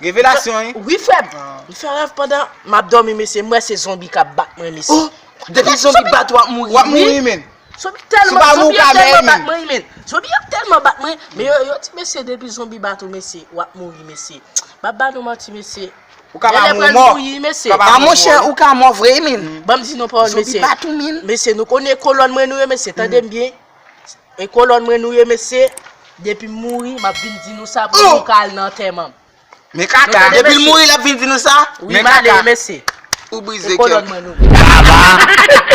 Revelasyon wi. Wi frèm, m fè rèv pandan map dòmi mesye m wè se zonbi kap bat mwen mesye. Oh depi zonbi bat ou wap mouri wi. Wap mouri menn. Zonbi tèlman zonbi yo tèlman bat mwen wi menn. Zonbi yo tèlman bat mwen men yo yo di mesye depi zonbi bat ou mesye wap mouri mesye. Map ba nou manti mesye. Ou ka pa mou mò. A monchè ou ka mò vre wi menn. Banm di nou pawòl mesye. Zonbi bat ou menn. Mesye nou konnen kolòn mwen nou ye mesye tandem byen. E kolòn mwen nou ye mesye, depi m mouri map vin di nou sa pou nou ka al nan antèman m. Men kaka, depi l mouri lap vin di nou sa? Men kaka. Wi m ale mesye. Ou brize kè. E kolòn mwen nou ye.